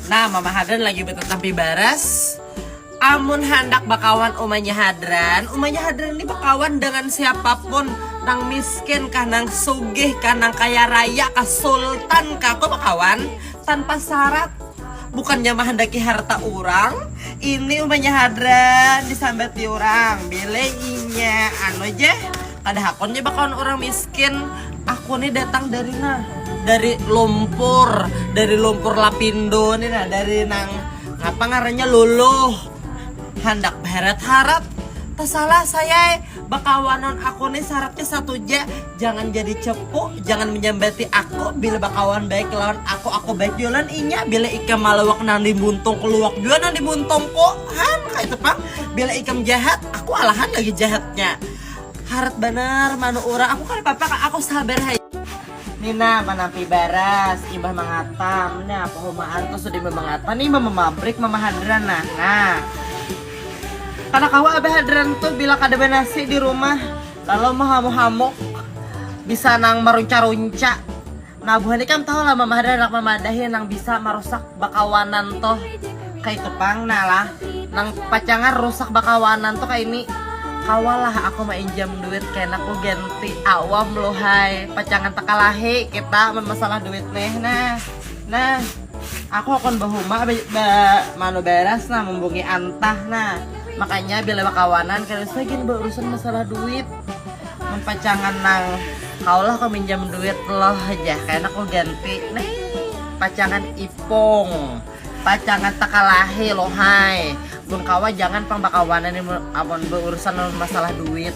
Nah, Mama Hadran lagi betetampi baras. Amun handak bakawan umanya Hadran, umanya Hadran ini bakawan dengan siapapun, nang miskin kah, nang sugih kah, nang kaya raya kah, sultan kah, kau bakawan tanpa syarat. Bukannya mahandaki harta urang, ini umanya Hadran disambati urang, bila inya anu ja. Kada hakun ja bakawan urang miskin. Aku ni datang dari nah, dari lumpur, dari lumpur lapindo ni nah, dari nang ngapa ngarannya luluh. Handak baharat-harat, tasalah sayai, bakawanan aku ni saratnya satu ja, jangan jadi cepu, jangan manyambati aku, bila bakawan baik lawan aku, aku baik jua lawan inya, bila ikam malawak nang di muntungku luwak jua nang di muntungku, han kaitu pang, bila ikam jahat aku alahan lagi jahatnya. Harat banar manu urang. Aku kada papa kak, aku sabar haja. Nina manampi baras, imbah mangatam. Nah, pahumaan tuh sudah imbah mangatam, imbah mamabrik mama hadran nah. Nah. Kada kawa abah hadran tuh bila kada banasi di rumah. Lalu mahamuk-hamuk bisa nang marunca-runca. Nah buhan ikam tahu lah mama hadan handak mamadahi nang bisa marusak bakawanan tuh kaitu pang nah lah nang pacangan rusak bakawanan tuh kaini kawa lah aku mainjam duit kena ku ganti awam lu hai pacangan takalahi kita mun masalah duit nih nah nah aku hakun bahuma ba ba manu baras nah mumbungi antah nah makanya bila bakawanan kada usah gin baurusan masalah duit. Mun pacangan nang kaulah kau minjam duit loh aja kena kau ganti nih pacangan ipung pacangan takalahi lohai mun kawa jangan pang bakawanan amun beurusan masalah duit.